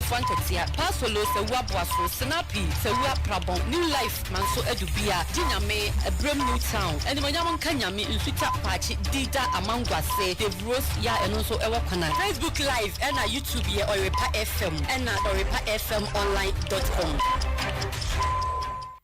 Fa ntɛtea, pa solo, sɛwu aboaso, sinapi, sɛwu aprabɔn, new life manso adu bia, gye nyame, ɛbrɛm new town, animonyam nka nyame, nsutwa, paakye, di da, amanguase, dave rose, ya ɛno nso ɛwɔ kwana. Facebook live ɛna YouTube yɛ ɔyerepa FM ɛna ɔyerepa FM online dot com.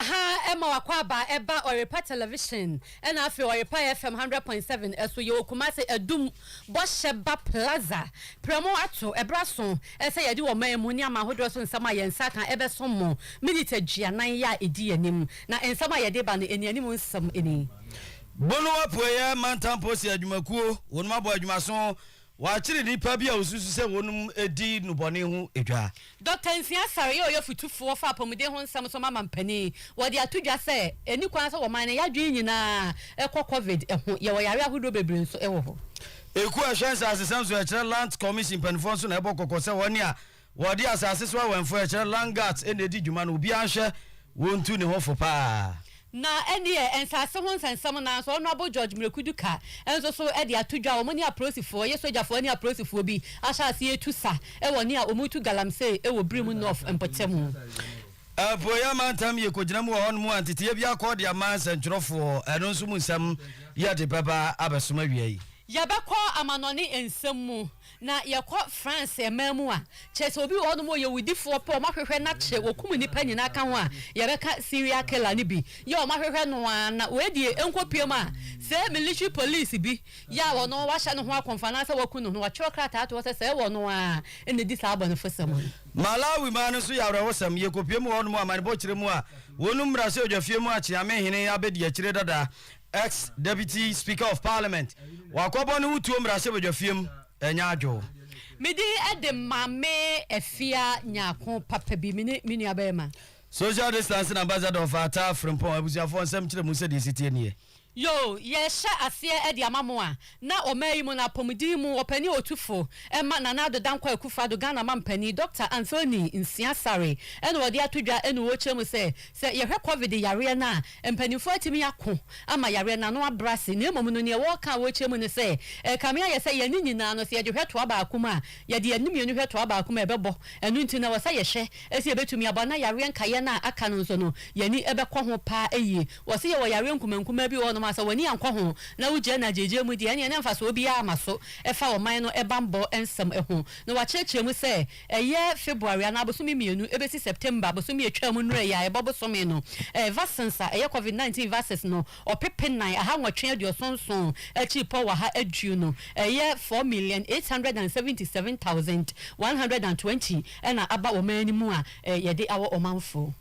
Wɔ ha ma w'akwaaba ɛba Ɔyrepa Television ɛna afei Ɔyrepa FM hundred point seven ɛso yɛwɔ Kumasi Adum Bɔhyɛba Plaza prɛmo ato ɛbra so ɛsɛ yɛde wɔ man mu nneɛma ahodoɔ so nsɛm a yɛn nsa aka ɛbɛsom mo minute aduanan yɛ a ɛdi yɛn anim na nsɛm a yɛde ba no ɛnianim nsɛm ɛni. Bono Apueɛ Mantam Posi Adwumakuo wɔnom abɔ adwumaso. Wɔakyere nnipa bi a wosusu sɛ wɔnom di nnubɔne ho dwa. Dɔkta Nsia Asare yɛ ɔyɛfotufoɔ fa apɔmuden ho nsɛm so ma mampanin. Wɔde ato dwa sɛ, ɛnni kwan sɛ wɔman no yɛ adwene nyinaa kɔ Covid ho. Yɛwɔ yare ahodoɔ bebree nso wɔ hɔ. Ekuo a ɛhwɛ nsasesɛm so a ɛkyerɛ Lands Commission mpanimfoɔ nso na ɛbɔ kɔkɔ sɛ wɔne a Wɔde asase so awɛmfo a ɛkyerɛ land guards na edi dwuma no, obiara nhwɛ wontu ne ho fo paa. Na ɛnneɛ nsase ho nsɛnsɛm no ara nso, Honourable George Mrekudu Ka nso so de ato dwa. Wɔn ne apolisifoɔ, wɔyɛ sogyafoɔ ne apolisifoɔ bi ahyɛ aseɛ retu sa wɔ nea wɔretu galamsey wɔ Birim North mpɔtamu. Apueeɛ amantam yi kɔgyina mu wɔ hɔnom a nteteeɛ bi akɔ de ama nsɛntwerɛfoɔ, ɛno nso mu nsɛm yɛde bɛba abɛsom awia yi. Yɛbɛkɔ amanɔne nsɛm mu. Na yɛkɔ France ɛman mu a, kyerɛ sɛ obi wɔ hɔnom a ɔyɛ owudifoɔ pɛ, wɔahwehwɛ no akyerɛ, wɔkum nnipa nyinaa ka ho a, yɛbɛka serial killer no bi yɛ, wɔahwehwɛ no ara na wei deɛ ɛnkɔpue mu a, sɛ military police bi yɛ a ɔno wɔahyɛ ne ho akɔmfo anaasɛ wɔaku no no, wɔatwerɛ krataa ato hɔ sɛ sɛ ɛwɔ ɔno ara na ɛdi saa abɔnefosɛm no. Malawi man no nso yɛ awerɛhosɛm, yɛkɔpue mu wɔ hɔnom a, amanebɔ kyerɛ mu a, wɔnum mmra sɛ odwafie mu akye, amehene abɛdi akyire dada. Ex, Deputy Speaker of Parliament wakɔbɔ ne ho tuo mmarahyɛbadwafie mu, ɛnyɛ adwo. Me din de Maame Afia Nyarko papa bi, me ne me nua barima. Social Distancing Ambassador of Ataa Frimpong Abusuafoɔ nsɛm kyerɛ mu sɛdeɛ ɛsi teɛ nie. Yoo, yɛrehyɛ aseɛ de ama mo a, Na ɔman yi mu no apɔmuden mu ɔpanin otufo ma Nana Addo Dankwa Akufo-Addo, Ghana mampanin, Dɔkta Anthony Nsia Saree na wɔde ato dwa ne wɔ kyerɛ mu sɛ, sɛ yɛhwɛ Covid yareɛ no a, mpaninfoɔ atumi ako ama yareɛ no ano abrɛ ase na mmom no neɛ wɔka a wɔkyerɛ mu ne sɛ, ɛkame ayɛ sɛ yɛne nyinaa no sɛ yɛde hwɛ toa baako mu a, yɛde yɛne mmienu hwɛ toa baako mu a ɛbɛbɔ, ɛno nti na ɛwɔ sɛ yɛhwɛ sɛ yɛbɛtumi abɔ na yareɛ nkaeɛ no a aka no nso no yɛani bɛkɔ ho paa yie. Wɔse yɛwɔ yareɛ nkumaa nkumaa bi wɔ hɔ nom a sɛ w'ani ankɔ ho na wo gyina no agyeegyeɛ mu deɛ ɛneɛ na mfasoɔ biara ma so ɛfa ɔman no bammɔ nsɛm ho. Na wɔakyerɛkyerɛ mu sɛ ɛyɛ February anaa abosome mmienu ɛbɛsi September bosome a ɛtwaa mu nnura yi a ɛbɔ bosome no ɛɛ vaccines a ɛyɛ Covid nineteen vaccines no ɔpepe nan aha nwɔtwe aduɔson nson akyiri pɔ waha aduo no ɛyɛ four million eight hundred and seventy seven thousand one hundred and twenty ɛna aba ɔman no mu a yɛde awɔ ɔmanfoɔ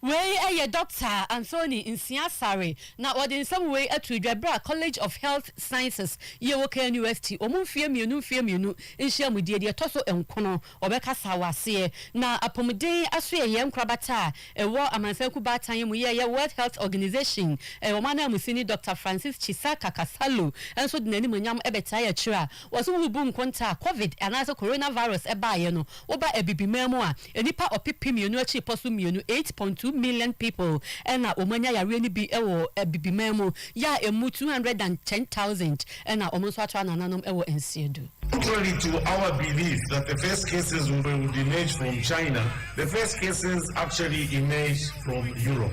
Wei yɛ Dɔkta Anthony Nsia Saree na ɔde nsɛm wei too dwa berɛ a College of Health Sciences yɛ wɔ KNUST wɔn mfeɛ mmienu mfeɛ mmienu nhyiamudie deɛ ɛtɔ so nkono wɔbɛkasa wɔ aseɛ na apɔmuden asoɛeɛ nkorabata a ɛwɔ amansan kuo baatan yi mu yɛ yɛ World Health Organization wɔn ananmusini Dɔkta Francis Chisaka Kasalu nso de n'animuonyam bɛtaeɛ akyire a wɔse worebu nkontaa Covid anaasɛ Coronavirus baeɛ no woba Abibiman mu a Nnipa ɔpepem mmienu akyirepɔ so mmienu, eight point two million people, na wɔanya yareɛ no bi wɔ Abibiman mu, yɛ a ɛmu two hundred and ten thousand na wɔn nso atra anananom wɔ Nsiedu. Contrary to our belief that the first cases would emerge from China, the first cases actually emerged from Europe.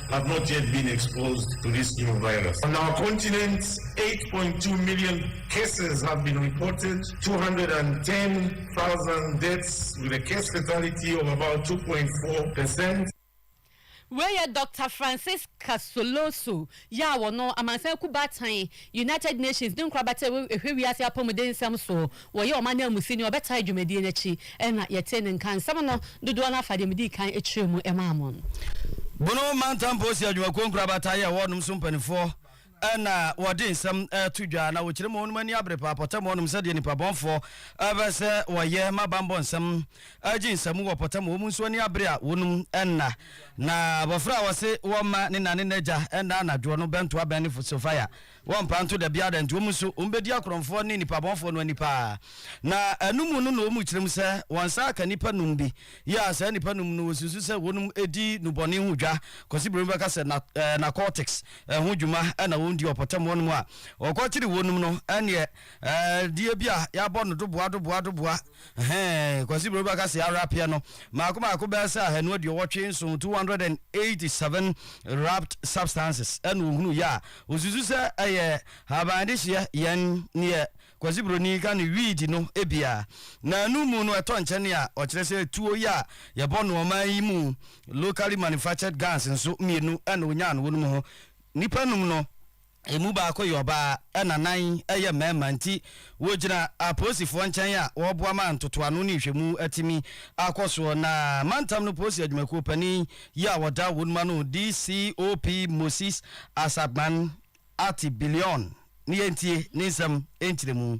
have not yet been exposed to this new virus. On our continent, 8.2 million cases have been reported, 210,000 deaths with a case fatality of about 2.4 percent. Wei yɛ Dɔkta Francis Casoloso yɛ a wɔno amansan kubaatan United Nations ne nkorabata a ɛhwɛ wiase apɔmuden nsɛm soɔ Wɔyɛ wɔn ananmusini a wɔbɛtaa dwumadie no akyi na yɛtee ne nka. Nsɛm no dodoɔ no ara fa deɛ medii kan kyerɛɛ mu maa mo no. Bono Mantam Polisi Adwumakuo nkorabata yɛ hɔ nom so mpaninfoɔ na wɔde nsɛm to dwa na wɔkyerɛ mu wɔnom ani abere paa pɔtam hɔ nom sɛdeɛ nnipa bɔnfoɔ bɛ sɛ wɔyɛ ma banbɔ nsɛm gye nsamu wɔ pɔtam wɔnom nso ani abere a wɔnom nna na abɔfra a wɔse wɔma ne na ne nagya nna anadwoɔ no bɛntoa bɛn ne fosofaya Wɔmpa nto da biara da nti wɔn nso wɔbɛdi akorɔmfoɔ ne nipabɔnfoɔ no ani paa. Na ɛno mu no na wɔn kyerɛm sɛ wɔn nsa aka nnipa num bi yɛ a saa nnipa num no wɔsusu sɛ wɔnom di nubɔne ho dwa kɔsi buroni bɛka sɛ na, eh, narcotics eh, ho dwuma ɛna wɔn di ɔpɔtam wɔnom a wɔkɔkyere wɔnom no ɛneɛ eh, deɛ bi a yɛabɔ no doboa doboa doboa Ɛhɛɛ, Kwasi Bro bɛka se arapeɛ no mmaako mmaako bɛyɛ sɛ ahanu aduowɔtwe nson, 287 wrapped substances, ɛna ɔhunu yɛ a ɔsusu sɛ ɛyɛ haban de hyeɛ yɛn neɛ Kwasi Broni ka no weed no ebia naanu mu no ɛtɔ nkyɛne a ɔkyerɛ sɛ tuo yɛ a yɛbɔ no ɔman yi mu locally manufactured guns nso mmienu ɛna ɔnyaa no wɔnom ho nnipa num no Emu baako yɛ ɔbaa ɛna nan yɛ mmarima nti wɔgyina apolisifoɔ nkyɛn a wɔreboa ma ntotoano ne nhwɛmu atumi akɔ soɔ na mantam no polisi adwumakuo panin yi a wɔda wɔn mu ano DCOP Moses Asakman Ati Billion ne yɛntie ne nsɛm nkyerɛmu.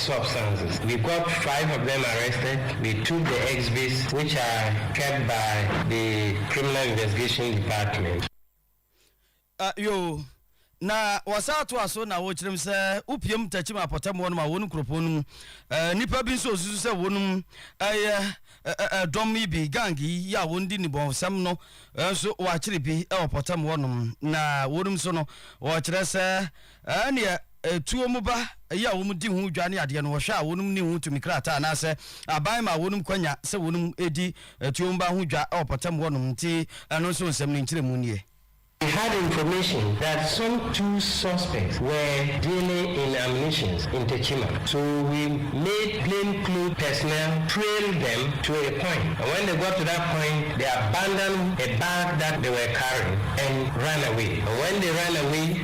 substances. We got five of them arrested, we took the exhibits which are kept by the Criminal Investigation Department. Ah, yoo. Na wɔsan toa so na wɔkyerɛ mu sɛ wopiam takyim apɔtɛmmoɔ nom a wɔn nkuropɔn no mu eh, nnipa bi nso ɔsusu sɛ wɔnom ɛyɛ eh, eh, eh, dɔm yi bi, gang yi yɛ a wɔn di nnibɔnsɛm no eh, nso wɔakyere bi ɛwɔ pɔtɛmmoɔ nom na wɔnom nso no wɔkyerɛ sɛ Ɛɛ neɛ ɛtuo mu ba yi a wɔn di ho dwa ne adeɛ no wɔhwɛ a wɔnom nni ho tumi krataa anaasɛ aban ma wɔnom kwanya sɛ wɔnom di ɛtuo mu ba ho dwa wɔ pɔtam hɔ nom nti ɛno nso nsɛm no nkyerɛmu nie. We had information that some two suspects were dealing in ammunitions in Techiman so we made plain clothes personnel trail them to a point and when they got to that point they abandoned a bag that they were carrying and ran away and when they ran away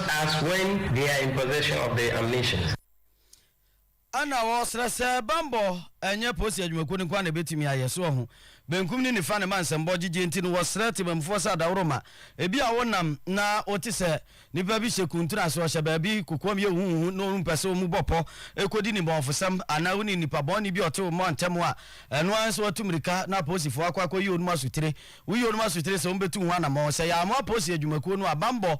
as when they are in possession of the ammunition. Ɛna wɔsrɛ sɛ bammɔ ɛnyɛ polisi adwumakuo no nko ara na ɛbɛtumi ayɛ, so ɔho benkum ne nifa na ɛma nsɛmbɔ gyegye nti no wɔsrɛ temammufoɔ sɛ adaworoma bi a wonam na wote sɛ nipa bi hyɛ kuntun ase, ɔhyɛ baabi kokoam yɛ huhuhu na wompɛ sɛ wɔn mu bɔ pɔ kɔdi ne bɔnfosɛm anaa wonim nipa bɔne bi a ɔte wo mmɔ ntɛm a ɛno ara nso atu mmirika na apolisifoɔ akɔ akɔyi wɔn asutire woyi wɔn asutire sɛ wɔbɛtu ho anammɔn sɛ yɛammoa polisi adwumakuo no a bammɔ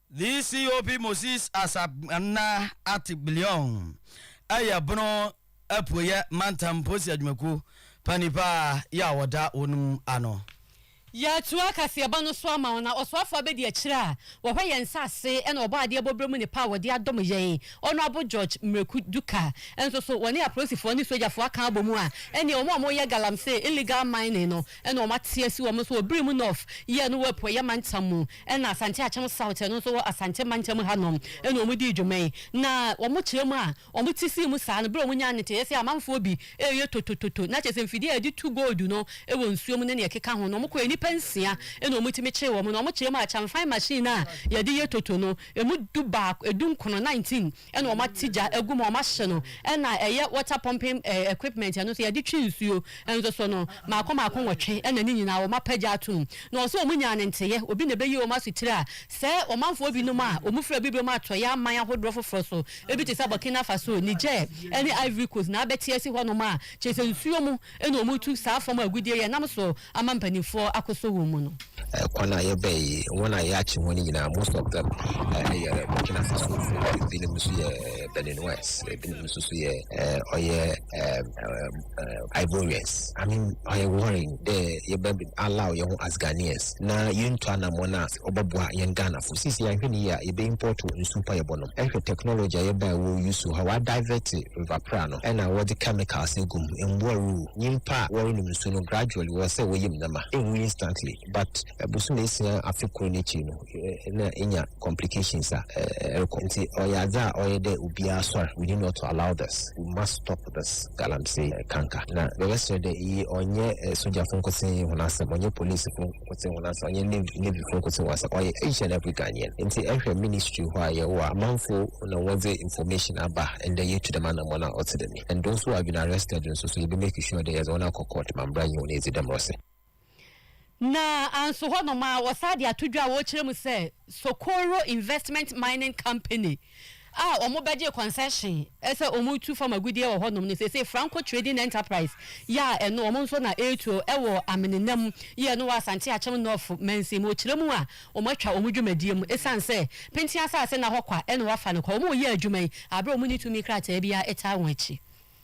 DCOP Moses Asap-Nana Atgbilion yɛ Bono Apueɛ Mantam Polisi Adwumakuo panin pa ara yi a wɔda wɔnom ano. Yɛatoa kaseɛbɔ no so ama wo na ɔsoafoɔ abɛdi akyire a wɔhwɛ yɛn nsase na ɔbɔ adeɛ bɔ berɛ mu ne pɛ a wɔde adom yɛn Honourable George Miraku Duka nso so wɔne apolisifoɔ ne sogyafoɔ aka abɔ mu a ɛnneɛ wɔn a wɔyɛ galamsee, illegal mining, no Ɛna wɔn ate asi wɔn so wɔ Birim North yɛ no wɔ Apueɛ mantam mu ɛna Asante Akyem South yɛ no nso wɔ Asante mantam ha nom ɛna wɔn dii dwuma yi. Na wɔn kyerɛ mu a wɔn te sii mu saa no berɛ a wɔn nyaa nteteeɛ sɛ amanfoɔ bi reyɛ totototo na kyerɛ sɛ mfidie a yɛde tu gold no wɔ nsuo mu ne nea ɛkeka ho no wɔn kɔɛ nnipa nsia ɛna wɔn tumi kyeree wɔn na wɔn kyerɛ mu a Chamfan machine a yɛde yɛ toto no ɛmu du baako ɛdu nkono, 19, ɛna wɔn ate gya agu mu a wɔn ahye no ɛna ɛyɛ water pumping ɛɛ equipment ɛno nso yɛde twe nsuo nso so no maako maako nwɔtwe ɛna ne nyinaa wɔn apɛ gya ato mu na wɔn nso wɔn nyaa ne nteyɛ obi na ɛbɛyi wɔn asutire a sɛ ɔmanfoɔ bi nom a wɔn firi abibiom atɔeɛ aman ahodoɔ foforɔ so ebi te sɛ Burkina Faso Niger ɛne Ivory Coast na abɛte asi hɔ nom a kyerɛ sɛ nsuo mu Ɛna wɔn retu saa fam agudeɛ yi ɛnam so ama mpaninfoɔ akosɔ wɔn mu no. Kwan a yɛbɛn yi, wɔn a yɛakye wɔn nyinaa, most of them, yɛ Burkina Fasofoɔ, ebinom nso yɛ Beninwɛs, ebinom nso so yɛ ɔyɛ Ivorians. I mean, ɔyɛ worrying dɛ yɛbɛ allow yɛn ho as Ghanaians na yɛntu anamɔn a Ɔbɔboa yɛn Ghanafo. Seesei yɛanhwɛ no yie a, yɛbɛ import nsu mpo a yɛbɔ nom. Hwɛ technology a yɛba a ɛwɔ Wusu hɔ a, wa divert river pra no ɛna wɔde chemicals agu mu. Mmoa rewu. Nyimpa a wɔrenom nsu no gradually wɔwɔ sɛ wɔyɛ mu nɛma. Ɛnwu instantly but bosoom esia afe kor n'ekyir no na enya complications a ɛrekɔ. Ntsi ɔyɛ adze a ɔyɛ dɛ obiara soar. We need not to allow this. We must stop this galamsey kanka. Na mebɛserɛ dɛ iyi ɔnnyɛ sogyafo nkotsee hɔn asɛm, ɔnnyɛ policefo. kote wɔn asa ɔnyɛ navy navy fo kote wɔn asa ɔyɛ asian african yɛn nti ɛhwɛ ministry hɔ a yɛwɔ a manfo na wɔdze information aba ɛndɛ yɛtu dɛm anamɔ no a ɔte dɛm yi ɛndo nso wɔ adwene arrested nso so yɛbɛ make sure dɛ yɛdze wɔn akɔ court ma mbra nye wɔn edzi dɛm rɔse. Na anso hɔ nom a wɔsaa de ato dwa a wɔrekyerɛ mu sɛ Socorro Investment Mining Company a wɔbɛgyee concession sɛ wɔretu fam agudeɛ wɔ hɔnom no, seesei Franco Trading Enterprise yɛ a ɛno wɔn nso na ɛretu wɔ Amenena mu yɛ a ɛno wɔ Asante Akyem North mansin mu. Wɔkyerɛ mu a wɔatwa wɔn dwumadie mu ɛsiane sɛ Pentin asase nna hɔ kwa na wɔafa no kwa. Wɔreyɛ adwuma yi berɛ a wɔnni tumi krataa biara taa wɔn akyi.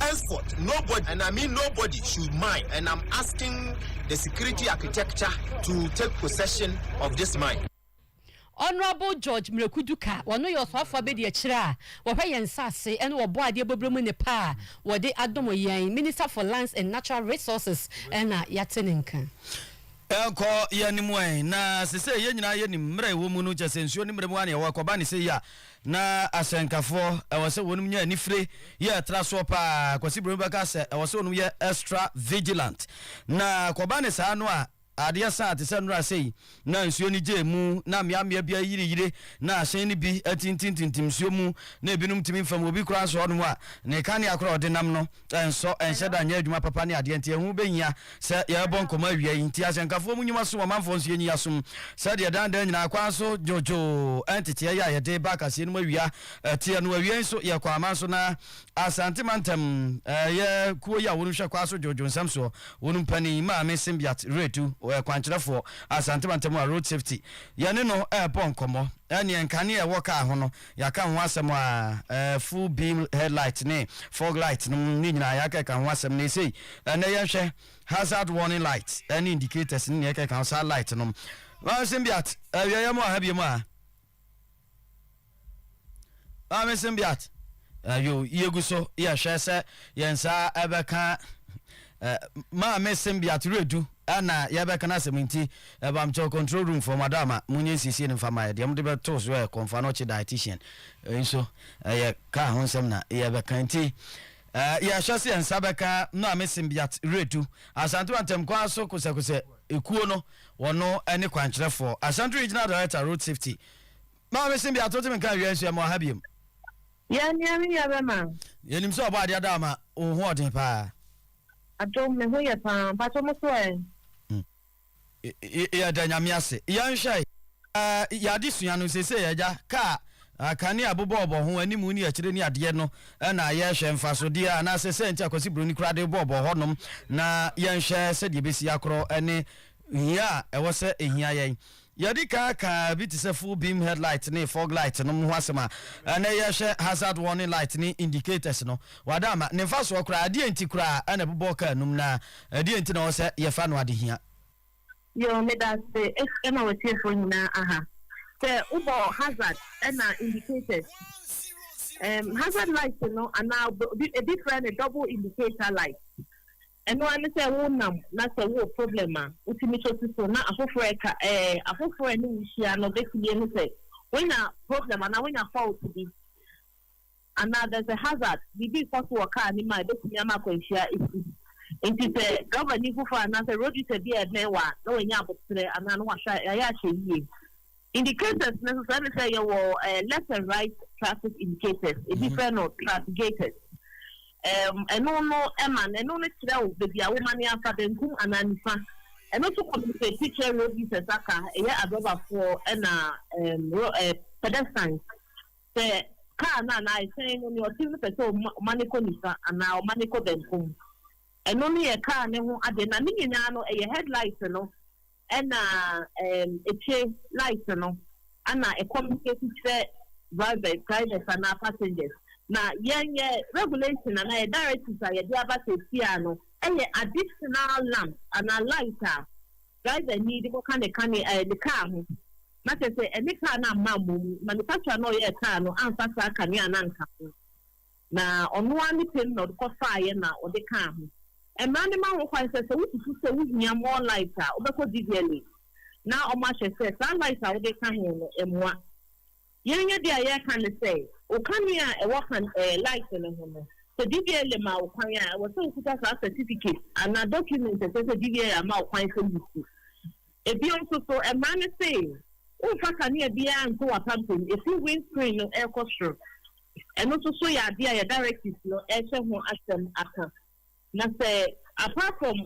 Henceforth nobody, and I mean nobody, should mine and I'm asking the security architecture to take possession of this mine. Honourable George Miraku Duka, ɔno yɛ Ɔsoafoɔ Abadiakyire a wɔhwɛ yɛn nsase ne Ɔbɔadeɛ bɔberɛ mu nnepa a wɔde adom yɛn, Minister for Lands and Natural Resources na yɛate ne nka. Ɛnkɔ yɛn anim ɛ, na sesei yɛn nyinaa yɛnim mmerɛ a ɛwɔ mu no, kyerɛ sɛ nsuo ne mmerɛ mu ara na yɛwɔ, ɛkɔba ne sɛi a Na asɛnkafoɔ, ɛwɔ sɛ wɔnom nya anifire yɛ tra soɔ paa, Kwasi Broni bɛka sɛ ɛwɔ sɛ wɔnom yɛ extra vigilant, na kɔba ne saa no a adeɛ sa a te sɛ nnora sei na nsuo no gye mu na mmeammea bi ayireyire na ahyɛn no bi atintimtintim nsuo mu na ɛbinom tumi mfam obi koraa nso hɔnom a ne kanea koraa a ɔde nam no ɛnsɔ, ɛnhyɛ da nyɛ adwuma papa ne adeɛ nti ɛho bɛhia sɛ yɛbɔ nkɔmmɔ awia yi nti ahyɛnkafoɔ mu nnwuma som ɔmanfoɔ nso yɛnyi yɛasom sɛdeɛ daa daa nyinaa kwan so dwodwoo nteteɛ yi a yɛde ba akaseɛ no mu awia teɛ no awiei nso yɛ kɔ aman so na Asante mantam ɛyɛ kuo yi a wɔn hwɛ kwan so dwodwo nsɛm soɔ wɔn mpanin maame Simbiat Retu ɔyɛ kwankyerɛfoɔ Asante mantam a road safety yɛne no ɛrebɔ nkɔmmɔ ɛneɛ nkaneɛ ɛwɔ kaa ho no Yɛaka ho asɛm a eh, full beam headlight ne fog light nom ne nyinaa yɛaka ɛka ho asɛm na ɛsei ɛnɛ yɛnhwɛ hazard warning light ɛne indicators ne nea ɛka ɛka ho saa light nom. Maame Simbiat, awieɛ mu aha biemu a Maame Simbiat, ayo yɛgu so yɛhwɛ sɛ yɛn nsa ɛbɛka Maame Simbiat Redu na yɛbɛka n'asɛm nti bamkyɛw control room foɔ mada ama monyɛ nsiesie no mfa ma yɛ. Deɛ mode bɛto so yɛ kɔmfa no ɔkye dietitian ɛyi so ɛyɛ car ho nsɛm na yɛbɛka nti yɛhwɛ sɛ yɛn nsa bɛka Maame Simbiat Redu Asantewa ntɛmkwan so kosɛkosɛ ekuo no wɔno ne kwankyerɛfoɔ Ashanti Regional Director Road Safety Maame Simbiat wotumi nka awie nso yɛma wɔ ha biom. Yɛ nea me yɛ bɛma. Yɛnim sɛ ɔbɔ adeɛ ada ama wo ho ɔden paa. Adom me ho yɛ paa mpakyɛ mo so ɛ. Yɛda Nyame ase. Yɛnhwɛ yɛn adesua no seesei agya kaa kanea bobɔɔbɔ ho animu ne akyire ne adeɛ no na yɛhwɛ mfasodeɛ anaasɛ sɛnti a Kwasi Broni koraa de bɔɔbɔ hɔnom na yɛnhwɛ sɛdeɛ ɛbɛsi akorɔ ne Hia a ɛwɔ sɛ ehia yɛn. Yɛadi kan aka bi te sɛ full beam headlight ne fog light nom ho asɛm a ɛnnɛ yɛhwɛ hazard warning light ne indicators no. Wɔada ama ne mfasoɔ koraa. Ɛdeɛn nti koraa na ɛbobɔ kaa nom na ɛdeɛn nti na ɛwɔ sɛ yɛfa no adehia? Yoo, meda ase ɛma w'atiefoɔ nyinaa aha. Sɛ wobɔ hazard ɛna indicators, ɛɛm, hazard light no anaa obi, ebi frɛ no double indicator light. Ɛno ara ne sɛ wonam na sɛ wowɔ problem a, wotumi tɔ si so na afoforo reka. Ɛɛ, afoforo a ɛne wo hyia no betumi ahu sɛ woanya problem anaa woanya fault bi anaa there's a hazard, biribi rekɔ so wɔ kaa no mu a ebetumi ama akwanhyia asi. Enti sɛ drɔbani foforo anaasɛ road user bi a ɛbɛn wo a, na wanya aboterɛ anaa na wahwɛ a, ɛyɛ a hyɛ yiye. Indicators no nso ɛne sɛ yɛwɔ left and right traffic indicators, ebi frɛ no traffigators. Ɛno no ɛma no ɛno no kyerɛ wo baabi a woma no afa benkum anaa nifa. Ɛno nso compensate kyerɛ road users aka ɛyɛ adrɔbafoɔ ɛna pedestrians sɛ kaa no anaa ɛhyɛn no nea ɔte no pɛ sɛ ɔma no kɔ nifa anaa ɔma no kɔ benkum. Ɛno no yɛ kaa no ho adeɛ na ne nyinaa no ɛyɛ headlight no. Ɛna ɛɛm ekye light no ɛna e communicate kyerɛ drivers, drivers anaa passengers. Na yɛn yɛ regulation anaa yɛ directives a yɛde aba seesiaa no ɛyɛ additional lamp anaa light a driver nii de kɔka ne ka ne ɛɛ ne car ho. Na kyerɛ sɛ ɛne car no amma mmɔ mu. Manufacturer no a ɔyɛɛ car no amfa saa kanea no anka ho. Na ɔno ara ne pɛn na ɔde kɔ faeɛ na ɔde kaa ho. Mmara no ma ho kwan sɛ, sɛ wosusu sɛ wohia more light a, wobɛkɔ Didiale na wɔahwɛ sɛ saa light a wode ka ho no mmoa. Yɛn yɛ deɛ a yɛreka ne sɛ, wo kanea a ɛwɔ kan ɛɛ light no ho no, sɛ Didiale ma wo kwan a, ɛwɔ sɛ wokuta saa certificate anaa document a ɛkyerɛ sɛ Didiale ama wo kwan sɛ wusi. Bio nso so, mmara no se womfa kanea biara nto w'apampam efi windscreen no rekɔ soro. Ɛno nso so yɛ ade a yɛn directives no rehyɛ ho asɛm aka. Na sɛ apart from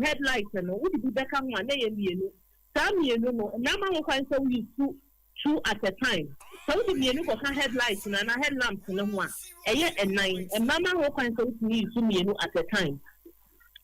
headlight no, wode bi bɛka ho a, na ɛyɛ mmienu. Saa mmienu no, mmara ma ho kwan sɛ wo use two at a time. Sɛ wode mmienu kɔka headlight no anaa headlamps no ho a, ɛyɛ nnan. Mmara ma ho kwan sɛ wotumi use mmienu at a time.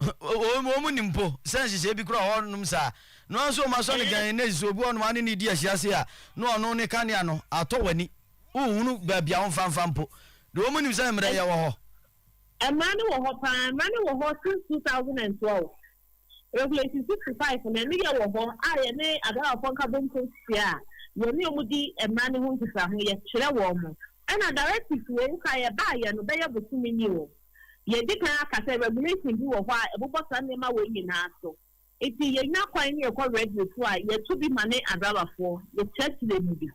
Wɔnnim mpo sɛ nhyehyɛe bi kura hɔnom saa. Noa nso wɔn asɔnegyan nnɛ yi, sɛ obi wɔ hɔnom a ne nidi yɛ hyease a, na ɔno ne kanea no. Atɔ w'ani. Wonhunu baabi a wɔmfa mfa mpo. Deɛ wɔnnim sɛ mmara yɛ wɔ hɔ. Mmara no wɔ hɔ paa. Mmara no wɔ hɔ since two thousand and twelve. Regulation sixty five no, ɛno yɛ wɔ hɔ a yɛne Adarawafoɔ Nkabom Konstitua a yɛne wɔn di mmara no ho nkitaho, yɛkyerɛ wɔn. Ɛna directives wɔ mu koraa a yɛbaeɛ no bɛyɛ bosome ni o. Yɛadi kan aka sɛ regulation bi wɔ hɔ a ɛbobɔ saa nneɛma wei nyinaa so. Nti yɛnya kwan ne yɛkɔ radio so a, yɛto bi ma ne adrabafoɔ, yɛkyerɛkyerɛ mu bi.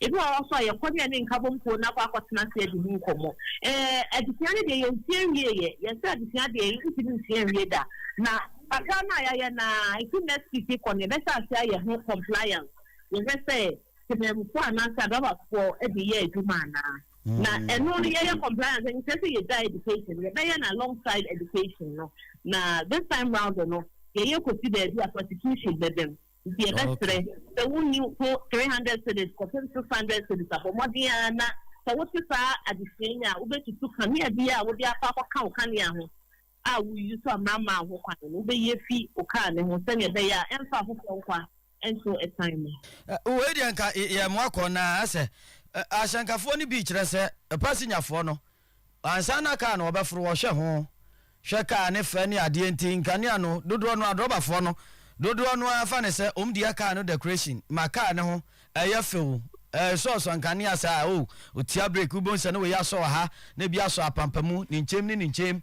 Ebi wɔ hɔ nso a yɛkɔ ne yɛne nkabom kuo no akɔ akɔtena ase adi ho nkɔmmɔ. Ɛɛ, adesua no deɛ yɛnsua nwieeɛ. Yɛsɛ adesua deɛ yɛntumi nsua nwie da. Na kakra no a yɛayɛ no ara, ɛfiri next week rekɔ no, yɛbɛhyɛ aseɛ ayɛ ho compliance. Yɛhwɛ sɛ temanmufoɔ anaasɛ adrabafoɔ de yɛ adwuma anaa. Na ɛno no yɛyɛ compliance no kyerɛ sɛ yɛgyae education no yɛbɛyɛ no along side education no na this time round no yɛyɛ kɔsi baabi a prosecution bɛba mu nti yɛbɛsrɛ sɛ wonni ho three hundred cedis kɔpem six hundred cedis abɔ mmɔden ara na sɛ wote saa adesua yi a wobɛtutu kanea biara a wode akɔ akɔka wo kanea ho a woyi so a mmara mmaa ho kwan no wobɛyi afi wo kaa no ho sɛnea ɛbɛyɛ a ɛmfa afoforɔ nkwa nso ɛsan mu. Wei deɛ nka yɛmmoa kɔ na sɛ ahyɛnkafoɔ no bi kyerɛ sɛ pasinyafoɔ no ansa na kaa no wɔbɛforo wɔhwɛ ho hwɛ kaa ne fɛ ne adeɛ nti nkanea no dodoɔ no adrɔbafoɔ no dodoɔ no ara fa ne sɛ wɔn deɛ kaa no decoration ma kaa ne ho ɛyɛ fɛw ɛresɔɔsɔ nkanea saa o otia break wobɛhu sɛ ne wei asɔ wɔ ha na ebi asɔ apampamu ne nkyɛm ne ne nkyɛm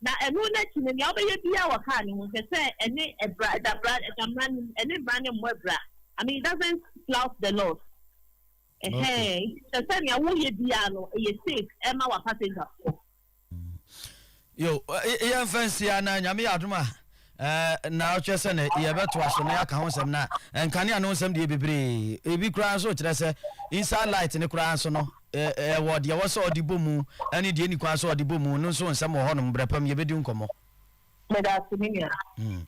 Na ɛno no akyi no, nea wobɛyɛ biara wɔ car no mu, hwɛ sɛ ɛne ɛbra, ɛda bra, ɛda mmara no mu, ɛne mmara no mmɔ abira. I mean, it doesn't flout the laws. Ɛhɛn, nti hwɛ sɛ nea woyɛ biara no, ɛyɛ safe ɛma wa passengers foɔ. Yo, yɛmfa nsi anaa Nyame yɛ adom a, Ɛɛ, nnaawɔtwe sɛ na yɛbɛtoa so na yɛaka ho nsɛm, na nkanea no ho nsɛm deɛ yɛ bebree. Ebi koraa nso kyerɛ sɛ inside light no koraa nso no, ɛɛ, ɛwɔ deɛ ɛwɔ sɛ ɔde bɔ mu ne deɛ ɛnni kwan sɛ ɔde bɔ mu no nso ho nsɛm wɔ hɔnom. Berɛ pa mu yɛbɛdi ho nkɔmmɔ. Meda ase, me nua. Hmm.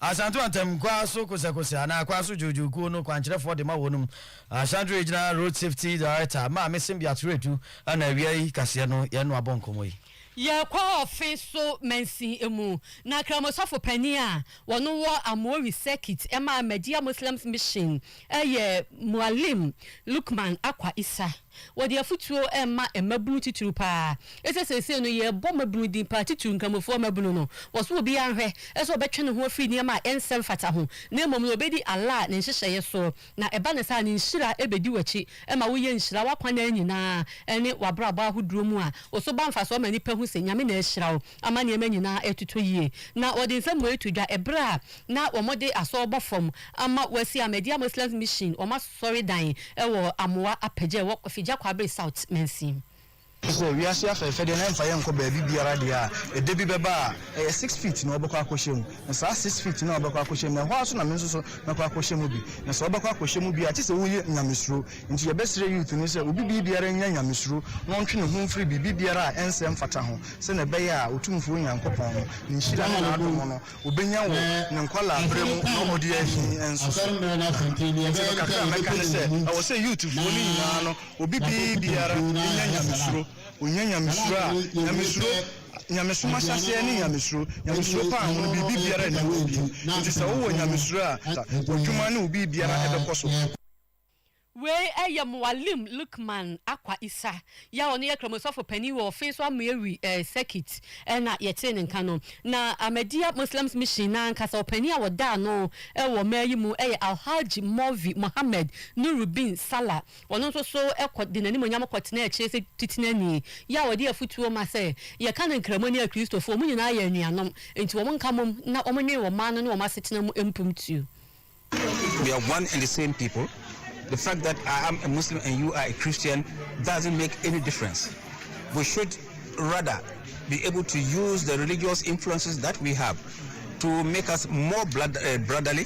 Asante Mantam Kwaso Kosɛkosɛ anaa Kwaso Dwoodwoo kuo no kwankyerɛfoɔ de ma wɔnom Ashanti Regional Road Safety Director, Maame Symbiat Redu, ɛna awia yi kaseɛ no yɛne no abɔ nkɔmmɔ yi. Yɛkɔɔ ɔfe so mansin mu na Kramoh sɔfo panin a wɔno wɔ Amoori circuit ɛma Ahmadiyya Muslims Mission ɛyɛ Muallim Luqman Akwa Issa. Wɔde afutuo ɛma mmabunu titiriw paa ɛsɛ seesei no yɛbɔ mmabunu din paa titiriw Nkramofoɔ mmabunu no wɔ so obiara nhwɛ sɛ ɔbɛtwe ne ho afiri nneɛma a ɛnsɛ mfata ho na mmom no ɔbɛdi Allah ne nhyehyɛeɛ so Na ɛba no saa a, ne nhyira bɛdi w'akyi ma woyɛ nhyira w'akwanan nyinaa ne w'abrabɔ ahodoɔ mu a, wo so ba mfasoɔ ma nnipa hu sɛ Nyame na ahyira wo ama nneɛma nyinaa retotɔ yie. Na wɔde nsɛm wei to dwa ɛberɛ a na wɔde asɔr bɔ fam ama wɔasi Ahmadiyya Muslims Mission wɔn asɔredan wɔ Amoa Apɛgya a ɛwɔ Kofi Gyakoa Bere South mansin mu. Te sɛ wiase afɛɛfɛdeɛ na ɛmfa yɛn nkɔ baabi biara deɛ a, ɛda bi bɛba a, ɛyɛ six feet na wɔbɛkɔ akɔhyɛ mu. Na saa six feet no a wɔbɛkɔ akɔhyɛ mu no, ɛhɔ ara nso na me nso so mɛkɔ akɔhyɛ mu bi. Na sɛ wobɛkɔ akɔhyɛ mu bi a, gye sɛ woyɛ nyamesuro. Nti yɛbɛsrɛ youth no sɛ obi biribiara nnya nyamesuro na ɔntwe ne ho mfiri biribibiara a ɛnsɛ mfata ho, sɛdeɛ ɛbɛyɛ a Otumfoɔ Nyankopɔn no, Ne nhyira ne N'adom no, ɔbɛnya wɔ ne nkwadaa berɛ mu na ɔde ahi nso so. Na nti no kakra a mɛka ne sɛ, ɛwɔ sɛ youthfoɔ no nyinaa no, Obi bee biara nya nyamesuro. Onya nyamesuro a, nyamesuro, nyamesom ahyɛaseɛ ne nyamesuro. Nyamesuro paa ho no, biribi biara nni hɔ bio. Enti sɛ wowɔ nyamesuro a, w'adwuma ne wo biribiara bɛkɔ so. Wei yɛ Muallim Lukman Akwa Isa yi a ɔno yɛ Kramoe sɔfo panin wɔ Feso Amuewi Circuit na yɛtee ne nka no. Na Ahmadiyya Muslims Mission no ankasa ɔpanin a wɔda ano wɔ mmaa yi mu yɛ Alhaji Mawvi Mohammed Nurudeen Salah. Ɔno nso so kɔ de n'animuonyam kɔtena akyire sɛ Titenani, yɛ a ɔde afotuo ma sɛ, Yɛka no Nkramoni a Kristofoɔ, wɔn nyinaa yɛ anuanom, enti wɔn nka mmom na wɔnnwen wɔn man no ne wɔn asetena mu mpumptuo. We are one and the same people, the fact that I am a Muslim and you are a Christian doesn't make any difference, we should rather be able to use the religious influences that we have to make us more brotherly,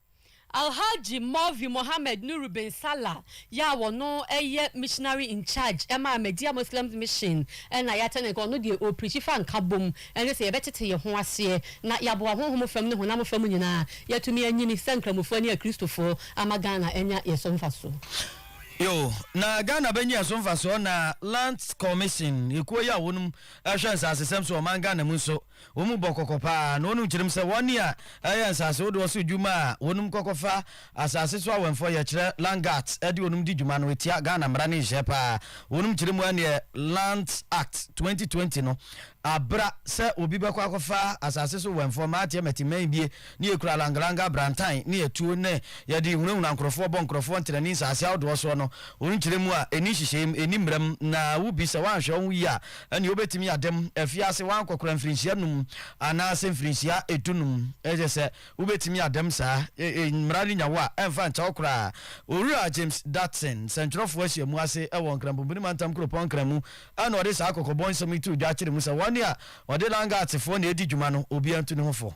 Alhaji Maulvi Mohammed Nuru bin Salah yi a ɔno yɛ Missionary in Charge ma Ahmadiyya Muslims Mission na yɛatɛn no nka. Ɔno deɛ ɔrepreachi fa nkabom ne sɛ yɛbɛtete yɛn ho aseɛ na yɛaboa honhom fam ne honam fam nyinaa yɛatumi anyini sɛ Nkramofoɔ ne Akristofoɔ ama Ghana anya yɛn so mfasoɔ. Yo, na Ghana bɛnya yɛn so mfasoɔ na Lands Commission, ekuo yi a wɔnom hwɛ nsasesɛm so wɔ ɔman Ghana mu nso Wɔn bɔ kɔkɔ paa, na wɔn kyerɛm sɛ wɔn a ɛyɛ nsase wodoɔ so dwuma a wɔnom kɔkɔ fa asase so awɛmfoɔ yɛ kyerɛ Land Guards de wɔnom di dwuma no ɛtia Ghana mmara ne nhyehyɛɛ paa. Wɔnom kyerɛ mu ɛneɛ Lands Act 2020 no abra sɛ obi bɛkɔ akɔfa asase so wɛmfoɔ mmaa teɛ mɛte mmaa ebie ne yɛkura langalanga abrantan ne atuo ne yɛde hunahuna nkorɔfoɔ bɔ nkorɔfoɔ ntenani nsase ahodoɔ soɔ no wɔnom kyerɛ mu a ɛni nhyehyɛɛ mu ɛni mmara mu na wo bi sɛ wanhwɛ wo ho yie a ɛnneɛ wobɛtumi ada mu afiri ase woankɔkora mfirinhyia num anaasɛ mfirinhyia dunum, ɛyɛ sɛ wobɛtumi ada mu saa, mmara no nya wo a ɛmfa nkyɛ wo koraa. Owura James Dutson, sɛntwerɛfoɔ ahyiamu ase wɔ Nkranbompuni Mantam Kuropɔn Nkran mu na ɔde saa kɔkɔbɔ nsɛm yi too dwa kyerɛ mu sɛ wɔn a wɔde Langatsefoɔ na ɛredi dwuma no, obiara ntu ne ho fo.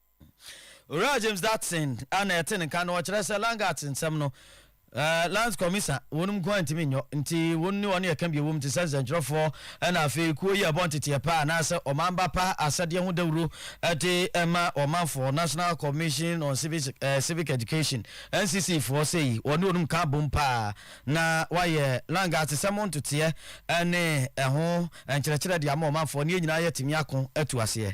Owura James Dutson a na ɛte ne nka no, ɔkyerɛ sɛ Langat nsɛm no, Lands Commiser wɔnom nko ara ntumi nyɔ, nti wɔn ne wɔn ɛka bi a ɛwɔ mu te sɛ nsɛntwerɛfoɔ ɛna afei kuo yi a ɛbɔ nteteɛ pa anaasɛ ɔmanba pa asɛdeɛ ho dawuro de ma ɔmanfoɔ, National Commission on Civic, eh, Civic Education, NCC foɔ sɛ yi, wɔne wɔnom ka abom pa ara na wɔayɛ Langat nsɛm ho ntoteɛ ne ɛho nkyerɛkyerɛ de ama ɔmanfoɔ ne yɛn nyinaa yɛatumi ako atu aseɛ.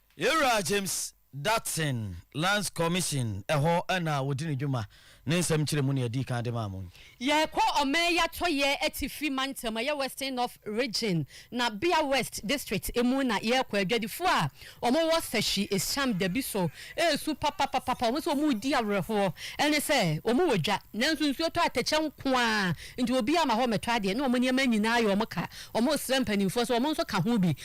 Yɛn Wura James Dutton Lands Commission, ɛhɔ na wɔdi ne dwuma. Ne nsɛm nkyerɛmu na yɛdii kan de maa mo. Yɛrekɔ ɔman yi atɔeɛ atifi mantam, ɛyɛ Western North Region, na Bia West District mu na yɛrekɔ. Adwadifoɔ a wɔwɔ Sashi Esiam Dabi so resu papapapapa. Wɔn nso wɔredi awerɛhoɔ. Ɛne sɛ, wɔwɔ dwa, nanso nsuo tɔ atɛkyɛ nko ara nti obiara ma hɔ mmɛtɔ adeɛ, ne wɔn nneɛma nyinaa ayɛ wɔn ka. Wɔresrɛ mpanimfoɔ sɛ wɔn nso ka ho bi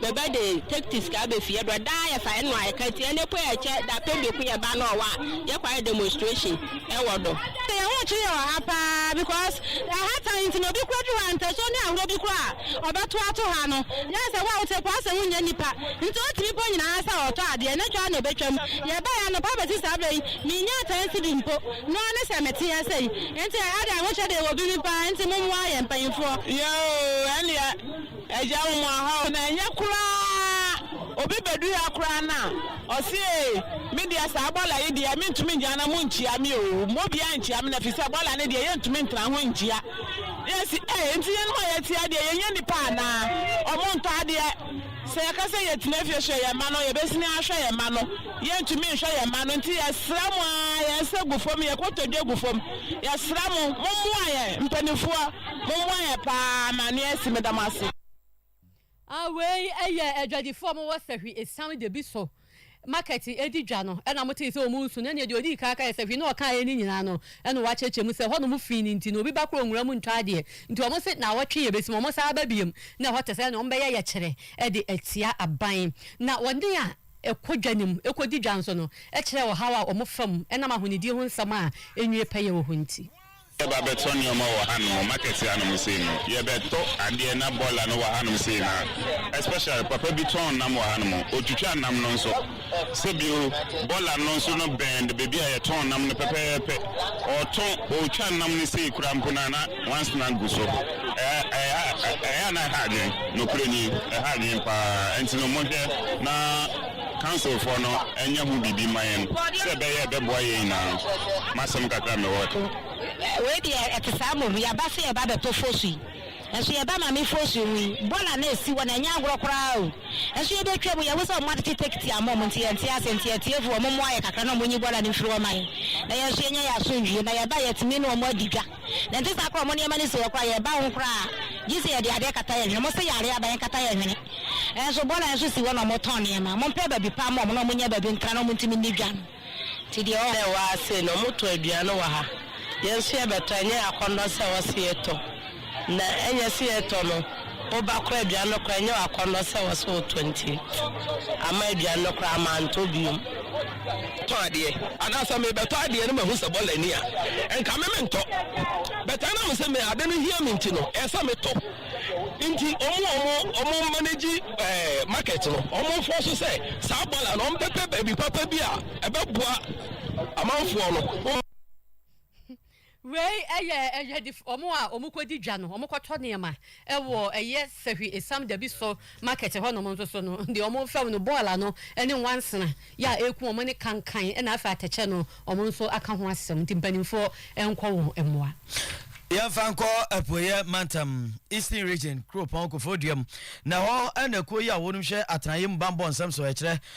Bɛbɛde tactics ka abɛ fie do a daa yɛ fa ɛno a ɛka tia ne po yɛ kyɛ dapɛn biako yɛ ba nɔɔ wa yɛ kɔ ayɛ demonstration ɛwɔ do. Yɛ ho kyere yɛ wɔ ha paa because ɛha tan nti na obi kura duru ha ntɛsuo ne ahorɔ bi kura a ɔbɛ to ato ha no yɛ sɛ wo a wo te po ase wo nyɛ nipa nti o tumi po nyina ha sɛ ɔtɔ adeɛ ne dwa na ɔbɛ twa mu yɛ bɛ yɛ anɔpa bɛ si saa bɛ yi me nya tan sidi mpo nɔɔ ne sɛ me te ha sɛ yi nti ɛha de ahokyɛ de wɔ bi mi paa nti mo moa yɛ mpaninfoɔ. Yɛ oo ɛneɛ Agya wo mo ahaw no ɛnyɛ koraa obi bɛduru ha koraa na ɔse ee me deɛ saa bɔla yi deɛ mentumi ngyina na mo nkyia me oo mma obiara nkyia me na firi sɛ bɔla no deɛ yɛntumi ntena ho nkyia yɛ se ee nti yɛnom a yɛte ha deɛ yɛnyɛ nnipa anaa ɔmo ntɔ adeɛ sɛ yɛka sɛ yɛtena fie hwɛ yɛn mma no yɛbɛsini ahwɛ yɛn mma no yɛntumi nhwɛ yɛn mma no nti yɛsrɛ mo aa yɛn nsa gu fam yɛn kotodwe gu fam yɛsrɛ mo mommoa yɛn mpaninfoɔ Mommoa yɛn paa ma ano asi meda mo ase. A Wei yɛ adwadifoɔ a wɔwɔ Sahwi Esiam Debiso market di dwa no na motee sɛ wɔresu no. Ɛnneɛ deɛ ɔdii kan kaeɛ Sahwi na ɔkaeɛ no nyinaa no na wɔakyerɛkyerɛ mu sɛ hɔnom fi no nti no obi ba koro nwura mu ntɔ adeɛ nti wɔn se naawɔtwe yɛbɛsi mu. Wɔsan aba biom na ɛhɔ te sɛ nea wɔbɛyɛ yɛkyerɛ de atia aban na wɔne a ɛkɔ dwa no mu ɛkɔdi dwa nso no kyerɛ ɔhaw a wɔfa mu ɛnam ahonidie ho nsɛm a ɛnwie pɛyɛ wɔ hɔ nti. Yɛba bɛtɔ nneɛma wɔ hanom, market hanom sei no, yɛbɛtɔ adeɛ na boiler no wɔ hanom sei no a, especially papa bi tɔn nam wɔ hanom, ɔtwitwa nam no nso. Sɛ bio, boiler no nso no bɛn baabi a yɛtɔn nam no pɛpɛɛpɛ. Ɔtɔn, ɔtwa nam no sei koraa mpo no a na nwansena gu so. Ɛyɛ a na ɛha adwene, nokorɛ nie, ɛha adwene pa ara. Ɛnti no monhwɛ na. Councilfoɔ no nyɛ ho biribi mma yɛn sɛ ɛbɛyɛ a ɛbɛboa yɛn nyinaa. M'asɛm kakra a mewɔ no. Wei deɛ ɛte saa mmom, yɛaba sɛ yɛreba abɛtɔ fosu yi, nso yɛba ma me fosu yi ho yi, bɔɔla no a ɛsi hɔ no, ɛnyɛ agorɔ koraa o. Nso yɛbɛtwa mu, yɛahu sɛ wɔatete tekiti ama wɔn, nti yɛnte ase. Nti atiefoɔ, wɔmmoa yɛn kakra na wɔnyi bɔɔla no mfiri hɔ mma yɛn, na yɛn nso yɛnya yɛn asomdwoeɛ. Na yɛbaeɛ a, yɛatumi ne wɔn adi dwa. Na ɛnte saa koraa, wɔn nneɛma no si hɔ koraa, yɛba ho koraa a, gye sɛ yɛde adeɛ kata yɛn hwene. Wɔse yare aba, yɛnkata yɛn hwene. Nanso bɔɔla nso si hɔ na wɔtɔn nneɛma. Mompɛ baabi pa mma wɔn na wɔnyɛ baabi ntra na wɔntumi nni dwa no. Nti deɛ ɔɔ. Sɛ waa sei na wɔtɔ aduane wɔ ha, yɛn nso yɛbɛtɔ, ɛnyɛ akɔnnɔ sɛ wɔse yɛtɔ. Na ɛnyɛ sɛ yɛtɔ no, woba koraa aduane no koraa ɛnyɛ w'akɔnnɔ sɛ wɔse wotɔ nti, amma aduane no koraa mantɔ biom. tɔ adeɛ anaa sɛ mebɛtɔ adeɛ no mahu sɛ bɔla ni a nka me mentɔ bɛtaa nam sɛ me ade no hia me nti no ɛsɛ metɔ nti ɔmo ɔmo ɔmo manage eh, market no ɔmo fɔ so sɛ saa bɔla no ɔmpɛpɛ baabi papa bi a ɛbɛboa amanfoɔ no Wei yɛ ɛyɛdif wɔn a wɔkɔdi dwa no, wɔkɔtɔ nneɛma wɔ ɛyɛ Sahwi Esam Dabiso market hɔnom nso so no, deɛ wɔfɛm no bɔɔl ano ne nwansena yɛ a ɛku wɔn ne kankan na afei atɛkyɛ no wɔn nso aka ho asɛm nti mpanimfoɔ nkɔ wɔn mmoa. Yɛmfa nkɔ Apueeɛ Mantam, Eastern Region, kuropɔn Kofoduam, na ɛhɔ na kuo yi a wɔnom hwɛ atenaeɛ mu bammɔ nsɛm so kyerɛ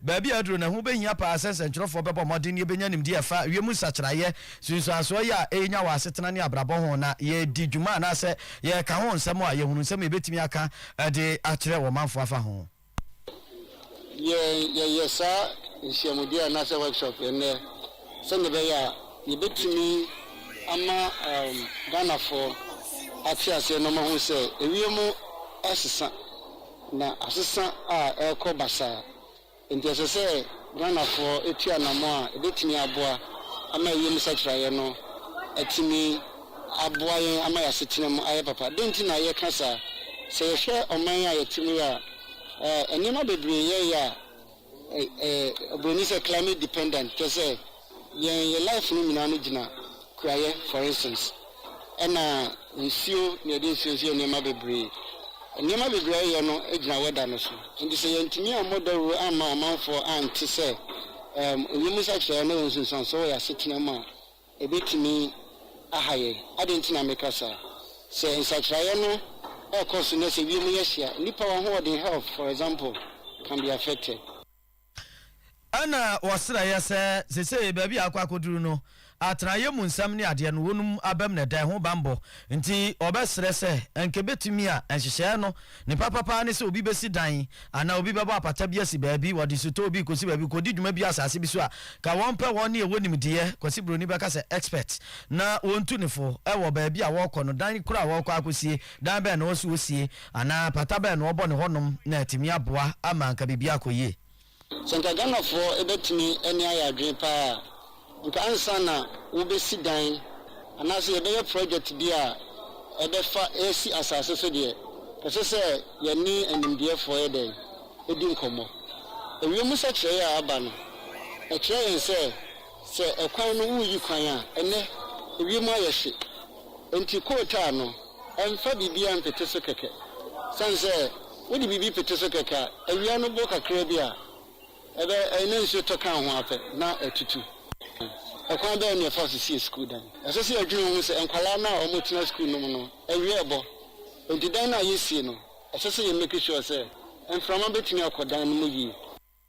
Baabi a aduru no, ɛho behia paa sɛ nsɛnkyerɛwfo bɛbɔ mmɔden na yebenya nimdeɛ a ɛfa wiem nsakyeraeɛ nsunsuansoɔ yɛ a ɛrenya wɔ asetena ne abrabɔ ho, na yɛadi dwuma anaasɛ yɛka ho nsɛm a, yɛahunu nsɛm a yebetumi aka de akyerɛ ɔmanfo afa ho. Yɛn, yɛyɛ saa nhyiamudie anaasɛ workshop nnɛ sɛnea ɛbɛyɛ a yebetumi ama Ghanafoɔ ate aseɛ na wɔahu sɛ ewiem asesa. Na asesa a ɛrekɔ basaa nti ɛsɛ sɛ Ghanafoɔ tu anammɔn a ɛbɛtumi aboa ama wiem nsakyeraeɛ no atumi aboa yɛn ama yɛn asetena mu ayɛ papa. Dɛn nti na yɛka saa? Sɛ yɛhwɛ ɔman a yɛte mu yi a, nneɛma bebree yɛɛyɛ a Ɛyɛ obroni sɛ climate dependent kyerɛ sɛ yɛn yɛ life no nyinaa no gyina kuayɛ for instance ɛna nsuo na yɛde nsuo nso yɛ nneɛma bebree nneɛma bebree a yɛyɛ no gyina weather no so nti sɛ yɛntumi ammɔ dawuro amma amanfoɔ ante sɛ ɛɛm onyɛ mu sakyerɛɛ na yɛn nsunsuansoɔ wɔ yɛn asetena mu a Ebetumi ahaw yɛn. Adɛn nti na meka saa? Sɛ nsakyeraeɛ no rekɔ so na sɛ wiem yɛ hye a, nnipa ahoɔden, health for example, can be affected. Ɛna wɔsrɛ yɛ sɛ, seesei baabi a akɔ akɔduru no, atenaeɛ mu nsɛm ne adeɛ no, wɔnom abam na ɛda ɛho bammɔ. Nti wɔbɛsrɛ sɛ, anka ɛbɛtumi a nhyehyɛeɛ no Ne papa paa ne sɛ obi bɛsi dan anaa obi bɛbɔ apata bi asi baabi, wɔde sutɔɔ bi kɔsi baabi, kɔdi dwuma bi asase bi so a, ka wɔmpɛ hɔ ne ɛwɔ nimdeɛ, Kwasi Broni bɛka sɛ expert, na wɔntu ne fo wɔ baabi a wɔrekɔ no, dan korɔ a wɔrekɔ akɔsie, dan bɛn na ɔwɔ sɛ ɔsie, anaa apata bɛn na ɔbɔ ne hɔnom na atumi aboa ama anka biribiara akɔ yie. Sɛ nka Ghanafoɔ bɛtumi ani ayɛ adwene paa a, nka ansa na wobɛsi dan anaasɛ yɛbɛyɛ project bi a ɛbɛfa ɛsi asase so deɛ, ɛsɛ sɛ yɛne animdeɛfoɔ yɛ dɛn? Ɛdi nkɔmmɔ. Ɛwiemu sɛkyerɛeɛ a aba no, ɛkyerɛ yɛn sɛ, sɛ ɛkwan no woreyi kwan a, ɛnnɛ ɛwiemu ayɛ hye. Enti kootaa no, mfa biribiara mpete so kɛkɛ. Esiane sɛ wode biribi pete so kɛkɛ a, awia no bɔ kakraa bi a, ɛbɛ, ɛyɛ na nsuo tɔ ka ho ara pɛ na atutu. Ɛkwan bɛn na ɛfa so sie sukuu dan? Ɛsɛ sɛ yɛdwene ho sɛ nkwadaa no a wɔtena sukuu no mu no, awia rebɔ. Enti dan no a yɛresie no, ɛsɛ sɛ yɛ make sure sɛ mframa bɛtumi akɔ dan no mu yie.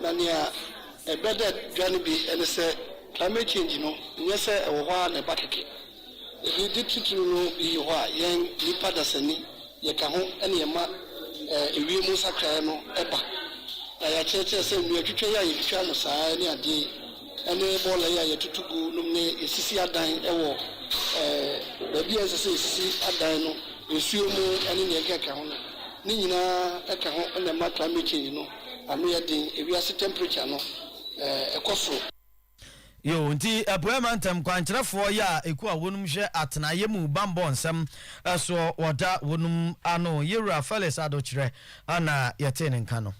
Na nea ɛbɛ dɛ dwa no bi ne sɛ climate change no nyɛ sɛ ɛwɔ hɔ ara na ɛba kɛkɛ. Ebi de titiriw no eyi hɔ a yɛn nnipa dasani yɛka ho na yɛma ewiem nsakrae no ba. Na yɛakyerɛkyerɛ sɛ nnua twitwa yi a yetwitwa no saa ne ade yi ne bɔɔla yi a yɛtoto gu nom ne yesisi adan wɔ baabi a ɛnsɛ sɛ yesisi adan no, nsuo mu ne nea ɛkeka ho no, ne nyinaa ka ho na ɛma climate change no. ano yɛ den, ewiase temperature no ɛkɔ soro. Yoo, nti Apueɛ Mantam kwankyerɛfoɔ yɛ a ɛku a wɔnom hwɛ atenaeɛ mu bammɔ nsɛm soɔ wɔda wɔnom ano. Yɛwura Felix Addo Kyerɛ na yɛtee ne nka no.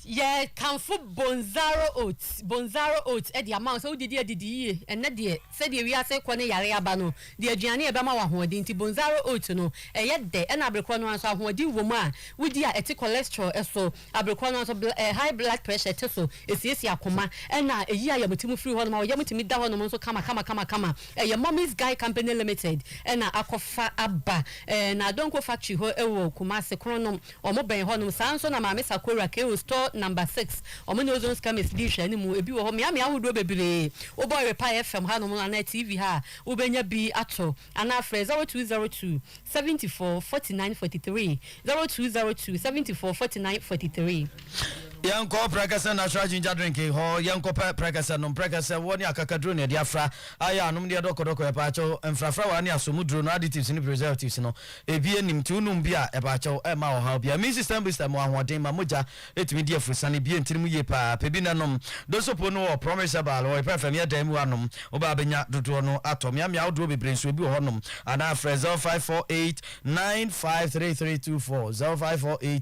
Yɛkamfo Bonzaro Oats, Bonzaro Oats de ama wo sɛ wodidi adidi yie ɛnnɛ deɛ. Sɛdeɛ wiase rekɔ ne yare aba no de aduane a ɛbɛma wo ahoɔden nti, Bonzaro Oat no, ɛyɛ dɛ ɛna abre korɔ no ara nso ahoɔden wɔ mu a wodi a ɛte cholesterol so. Abre korɔ no ara nso bl high blood pressure te so, ɛsiesie akoma ɛna ɛyi ayamti mu firi hɔ nom a wo yam tumi da hɔ nom nso kama kama kama kama. Ɛyɛ Mommy's Guy Company Limited ɛna akɔfa aba ɛɛ Nadonko factory hɔ ɛwɔ Kumasi, Kronom. Wɔn bɛn hɔnom. Saa ara nso na Maame Sakura Keio Store Number Six, wɔn ne Ozon's Chemist di nhwɛanimu. Ebi wɔ hɔ, mmeammea ahodoɔ bebree. Wobɔ Erepae FM hanom anaa TV ha a, wobɛnya bi ato. Anaa frɛ zero two zero two, seventy four, forty nine, forty three, zero two zero two, seventy four, forty nine, forty three. Yɛnkɔ Prɛkɛsɛ Natural Ginger Drink hɔ, yɛnkɔpɛ prɛkɛsɛ nom. Prɛkɛsɛ, woɔ ne akakaduro na yɛde afra. Ayɛ a, nom ne yɛ dɔkɔdɔkɔ. Ɛpaakyɛw, mfrafrawa ne asɔmuduro no, additives ne preservatives no, Ebi anim nti wonom bi a ɛba kyɛw ɛmma ɔhaw biara. Immune system booster mu ahoɔden ma mogya ɛtumi di afurusane ebien tiri mu yie paa. Pɛ bi na nom. Dosopo no wɔ Promise Herbal wɔ Yopa FM yɛ dan mu a nom wo ba bɛnya dodoɔ no atɔ. Meamea ahodoɔ bebree nso ebi wɔ hɔ nom anaa frɛ 0548953324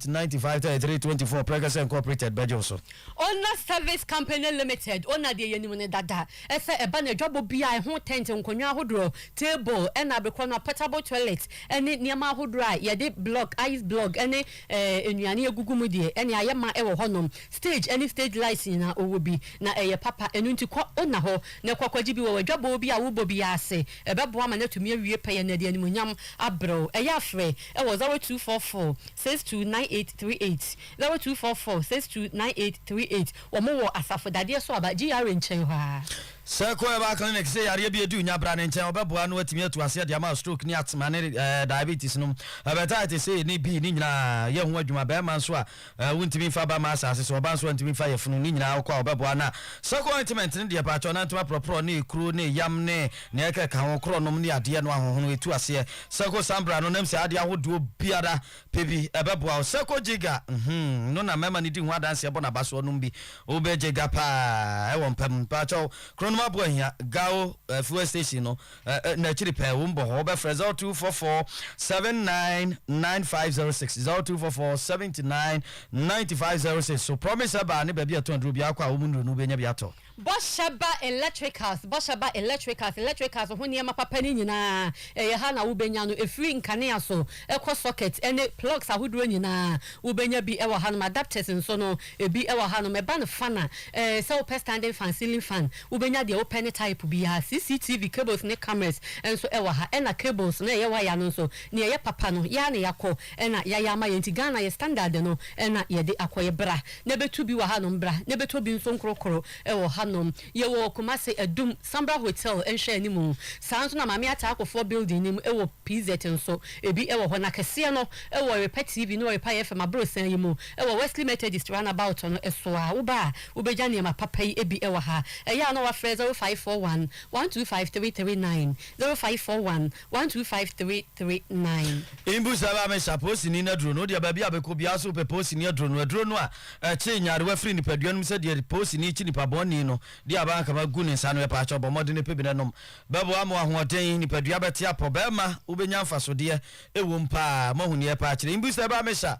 0548953324 Prɛkɛsɛ Incorporated bɛgye wo so. Owner Service Company Limited, Owner deɛ yɛnim no dada. Sɛ ɛba no adwabɔ bi a ɛho tɛnt, nkonnwa ahodoɔ, table na abekorɔ no a, portable toilet ne nneɛma ahodoɔ a yɛde block, ice block ne nnuane agugu mu deɛ, ɛnneɛ ayɛ ma wɔ hɔnom. Stage ne stage lights nyinaa wɔwɔ bi, na ɛyɛ papa. Ɛno nti kɔ na hɔ na kɔ kɔgye bi wɔ w'adwabɔ bi a worebɔ biara ase. Ɛbɛboa ma no atumi awie pɛyɛ na ɛde animuonyam abrɛ wo. Ɛyɛ a frɛ wɔ 0244 629 838. Zero two four four six two nine eight three eight Wɔn wɔ asafo dadeɛ so aba GRA nkyɛn hɔ ara. Circle Herbal Clinic sɛ yareɛ bi ɛdu nya bra ne nkyɛn ɔbɛboa ano atumi atu aseɛ de ama stroke ne atma ne diabetes nom hepatitis A ne B ne nyinaa yɛ ho adwuma bɛɛma nso a wontumi nfa ba ma asaase so ɔba nso a ntumi nfa yɛ funu ne nyinaa wokɔ a ɔbɛboa na circle ointment no deɛ paatwɔ nantewa prɔprɔ ne ekuro ne yam ne nea ɛkeka ho korɔ nom ne adeɛ no ahohono ɛtu aseɛ circle sambra no nam sɛ adeɛ ahodoɔ biara Pɛ bi, ɛbɛboa wo. Sɛ kɔ gye ga, mhmm, no na mɛma no di ho adanseɛ bɔ nabasoɔ nom bi. Wo bɛ gye ga paa ɛwɔ mpa mu. Mpakyɛw, kronom aboɔ hia, Gao eh, fuel station no eh, eh, nakyiri pɛɛ, wo mbɔ hɔ, wo bɛ frɛ 0244 79 9506, 0244 79 9506. So Promise ɛbaa ne baabi a ɛtɔn aduro biara kɔ a, wo mu nnuro no wo bɛ nya bi atɔ. Bɔhyɛba Electricals Bɔhyɛba Electricals Electricals ho nneɛma papa no nyinaa, ɛyɛ ha na wobɛnya no, ɛfiri nkanea so kɔ socket ne plugs ahodoɔ nyinaa, wobɛnya bi wɔ hanom. Adapters nso no, ɛbi wɔ hanom. Ɛba no fan a, ɛɛ, sɛ wopɛ standing fan, ceiling fan, wobɛnya deɛ wopɛ ne type biara. CCTV cables ne cameras nso wɔ ha, ɛna cables no a ɛyɛ waya no nso, deɛ ɛyɛ papa no, yɛn ara na yɛakɔ na yɛayɛ ama yɛn, nti Ghana yɛ standard no na yɛde akɔ. Yɛbra. na ɛbɛtu bi wɔ hanom bra na ɛbɛtɔ bi nso nkorokoro wɔ hanom. Yɛwɔ wɔ Kumasi, Adum, Sambra Hotel nhwɛanimu. Saa ara nso na Maame Atta Akofoɔ Building no mu wɔ PZ nso, ebi wɔ hɔ. Na kɛseɛ no wɔ Repa TV ne Repa FM aborosan yi mu wɔ Wesley Methodist Roundabout no so a. Woba a, wobɛgya nneɛma papa yi bi wɔ ha. Ɛyɛ a na woafrɛ 0541 125 339, 0541 One two five three three nine. Mbu sɛ ɛbɛa mesa poosini no aduro no, wodeɛ baabi a bɛkɔ biara so wopɛ poosini aduro no, aduro no a ɛkye nyarewa firi nipadua no mu sɛdeɛ poosini kye nipa bɔnni no deɛ aba anka magu ne nsa no, ɛpaakyɛw bɔ mmɔdene pe bi na nom, bɛboa ma wahoɔden, nipadua bɛte apɔ, bɛɛma wobɛnya mfasodeɛ ɛwom paa, moahu neɛ ɛpaakyerɛ, mbu sɛ ɛbɛa mesa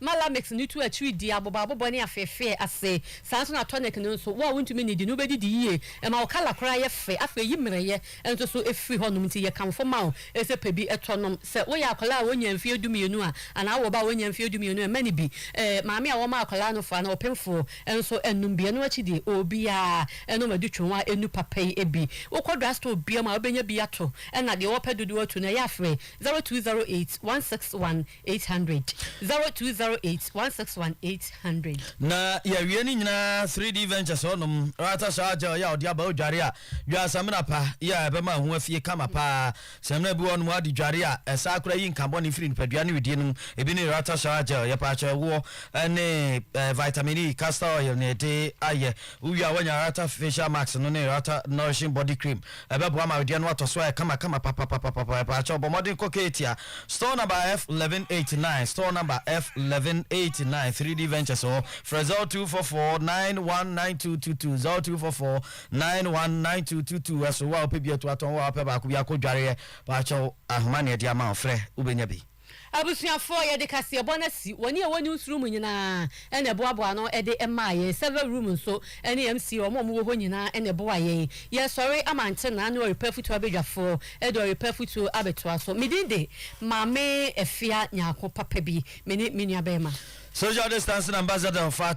Ma Lamek no tu akyiri di aboboaboboa ne afeefee ase. Saa ara nso na tonic no nso, wo a wuntumi nnidi no, wubedidi yiye. Ɛma wo kala koraa yɛ fɛ. Afei yi mmerɛwyɛ nso so firi hɔnom. Enti yɛkamfo ma wo sɛ pɛ bi tɔ nom. Sɛ woyɛ akwadaa a wonnya mfeɛ dumienu a, anaa wowɔ ba a wonnya mfeɛ dumienu a, mma no bi. Maame a wɔma akwadaa no fa no, ɔpemfoɔ nso nnom bi. Ɛno akyi deɛ, obiara nnom adutwonwa a ennu papa yi bi. Wokɔ drugstore biara mu a, wubenya bi ato. Ɛnna deɛ wɔpɛ dodoɔ atu no, ɛyɛ a frɛ zero two zero eight one six one. eight hundred zero two zero eight one six one eight hundred. na yɛawie no nyinaa 3d ventures hɔnom rata saa gel yɛ a ɔde aba odware a dware samina pa yɛ a ɛbɛma ho afie kama paa samina bi hɔnom ade dware a ɛsaa kora yi nka bɔne firi nipadua ne wedie no mu ebi ne rata saa gel yɛ paakyɛ ɛwoɔ ne eh, vitamin e castor oil ne ɛde ayɛ wowie a woanya rata facial mask no ne rata nourishing body cream Ɛbɛboa ma awedeɛ no atɔ so ayɛ kamakama papapapapa. Mpaakyɛw, bɔ mmɔden kɔ Katia store number F eleven eighty nine, store number F eleven eighty nine, three D Ventures hɔ. Frɛ zero two four four nine one nine two two two, zero two four four nine one nine two two two. Ɛso wo a wopɛ bi atu atɔn, wo a wopɛ baako bi akɔ dwareɛ. Paakyɛw, ahoma na yɛde ama wo, frɛ, wobɛnya bi. Abusuafoɔ, Yɛ'de kaseɛbɔ no asi wɔn a wɔ'nim soro mu nyinaa na ɛboaboa ano de maa yɛn, server room nso ne MC, wɔn a wɔ'wɔ hɔ nyinaa na ɛboa yɛn. Yɛ'resɔre ama nkyena ne ɔrepa afutuo abadwafoɔ de ɔrepa afutuo abɛtoa so. Medin de, Maame Afia Nyarko Papa bi, mene menua bɛɛma. Social Distancing Ambassador, Fata.